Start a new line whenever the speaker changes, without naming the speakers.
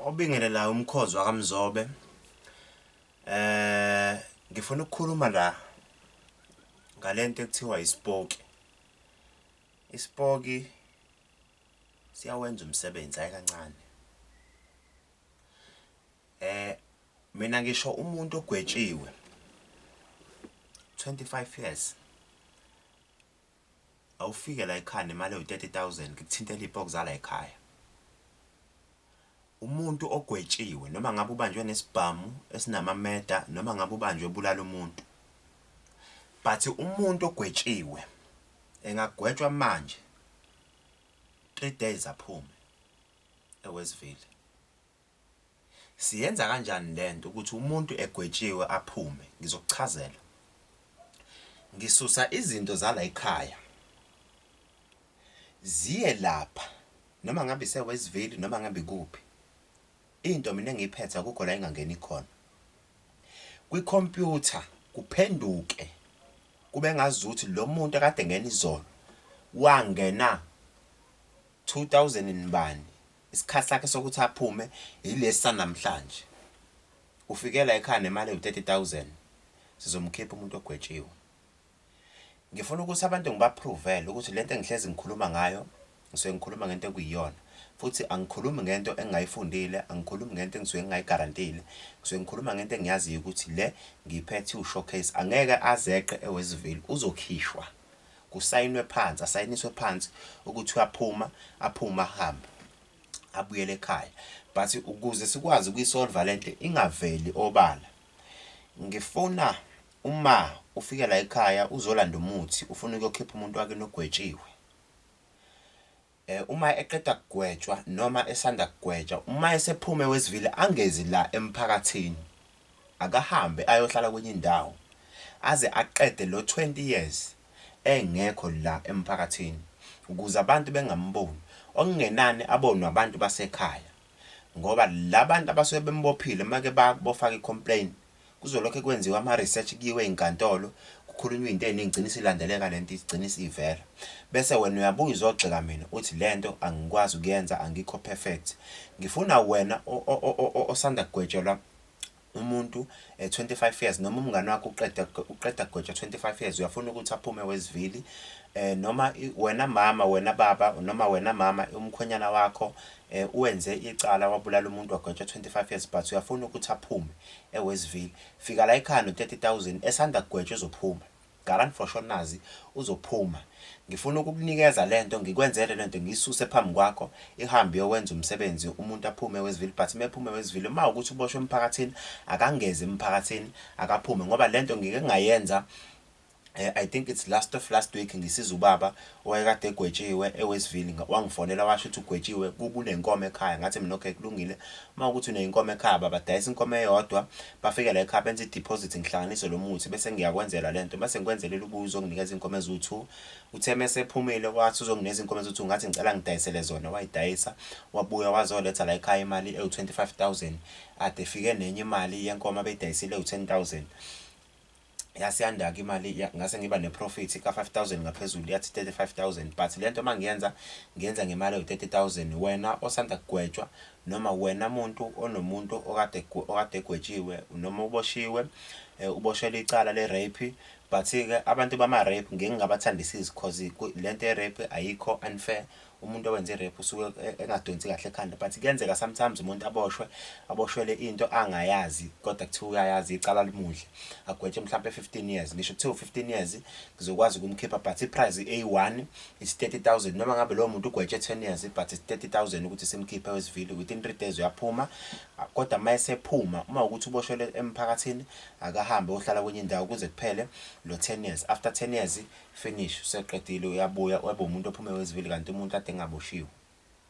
Obingelelayo umkhozi wakaMzobe. Eh ngifuna ukukhuluma la ngalento ekuthiwa isipoki. Isipoki siyawenza umsebenzi hayi kancane. Eh mina ngisho umuntu ogwetshiwe 25 years Awufike la ekhaya nemali ewu 30000 ngikuthintela ipock zala ekhaya. Umuntu ogwetshiwe noma ngabe ubanjwe nesibhamu esinama murder noma ngabe ubanjwe ebulala umuntu. But umuntu ogwetshiwe engagwetshwa manje 3 days aphume eWestville. Siyenza kanjani lento ukuthi umuntu egwetshiwe aphume ngizokuchazela. Ngisusa izinto zala ekhaya ziye lapha noma ngabe isewesiveli noma ngabe ikuphi. Into mina engiyiphethe akukho la engangeni khona. Kwi-computer kuphenduke kube ngazuthi lo muntu akade engena izolo wangena 2000 nibani Isikhathi sakhe sokuthi aphume yilesi sanamhlanje. Ufike la ekhaya nemali ewu-30,000. Sizomkhipha umuntu ogwetshiwe. Ngifuna ukuthi abantu ngibapruvele ukuthi le nto engihlezi ngikhuluma ngayo ngisuke ngikhuluma ngento ekuyiyona futhi angikhulumi ngento engingayifundile, angikhulumi ngento engisuke ngingayigarantile. Ngisuke ngikhuluma ngento engiyaziyo ukuthi le ngiyiphethe iwu-showcase. Angeke azeqe ewezivili, uzokhishwa. Kusayinwe phansi, asayiniswe phansi ukuthi uyaphuma, aphume ahambe abuyele ekhaya. But ukuze sikwazi ukuyisolva le nto ingaveli obala, ngifuna uma ufike la ekhaya uzolanda umuthi, ufuna ukuyokhipha umuntu wakini ogwetshiwe. Uma eqeda kugwetshwa noma esanda kugwetshwa, uma esephume wesivile angezi la emphakathini, akahambe ayohlala kwenye indawo aze aqede lo 20 years engekho la emphakathini ukuze abantu bengamboni, okungenani abonwe abantu basekhaya. Ngoba labantu abasuke bembophile make bofaka icomplain kuzolokhe kwenziwa ama research kuyiwe eyinkantolo kukhulunywe into eyiningi igcine isilandeleka lento igcine isivela bese wena uyabuya uzogxeka mina uthi lento angikwazi ukuyenza angikho perfect ngifuna wena osanda kugwetshelwa umuntu 25 years noma umngane wakho uqeda uqeda goja 25 years uyafuna ukuthi aphume wezivili eh noma wena mama wena baba noma wena mama umkhonyana wakho eh uwenze icala wabulala umuntu wagoja 25 years but uyafuna ukuthi aphume ewezivili fika la ekhanda 30000 esanda kugwetshwa uzophuma Garant for sure Nazi uzophuma. Ngifuna ukukunikeza lento ngikwenzele lento ngiyisuse phambi kwakho ihambe iyokwenza umsebenzi umuntu aphume wesivile but mephume wesivile uma ukuthi uboshwe emphakathini akangeze emphakathini akaphume ngoba lento ngike ngayenza eh, I think it's last of last week ngisiza ubaba owayekade egwetshiwe eWestville wangifonela washo ukuthi ugwetshiwe kuba unenkomo ekhaya ngathi mina okay kulungile uma ukuthi unenkomo ekhaya baba dayisa inkomo eyodwa bafike la ekhaya benze ideposit ngihlanganise lo muthi bese ngiyakwenzela lento bese ngikwenzelile ubuye uzonginikeza inkomo eziwu-2 uthe mese ephumile wathi uzongineza inkomo eziwu-2 ngathi ngicela ngidayisele zona wayidayisa wabuya wazoletha la ekhaya imali ewu-25000 ade fike nenye imali yenkomo abeyidayisile ewu-10000 yase yanda ke imali ngase ngiba ne profit ka 5000 ngaphezulu yathi 35000 but lento mangiyenza ngiyenza ngemali yo 30000 wena osanda kugwetshwa noma wena muntu onomuntu okade okade egwetshiwe noma uboshiwe eh, uboshelwe icala le rape but ke abantu bama rape ngingabathandisisi because lento ye rape ayikho unfair umuntu owenze rape usuke e-, engadonsi kahle ekhanda but kuyenzeka sometimes umuntu aboshwe aboshwele into angayazi kodwa kuthiwa uyayazi icala limudle agwetshe mhlawumpe 15 years ngisho kuthiwa 15 years ngizokwazi ukumkhipha but iprice A1 is 30000 noma ngabe lowo muntu ugwetshe 10 years but is 30000 ukuthi simkhiphe wesivile within 3 days uyaphuma kodwa uma esephuma uma ukuthi uboshwele emphakathini akahambe ohlala kwenye indawo kuze kuphele lo 10 years after 10 years Finish useqedile uyabuya uyabe umuntu ophume wezivili kanti umuntu ade engaboshiwe.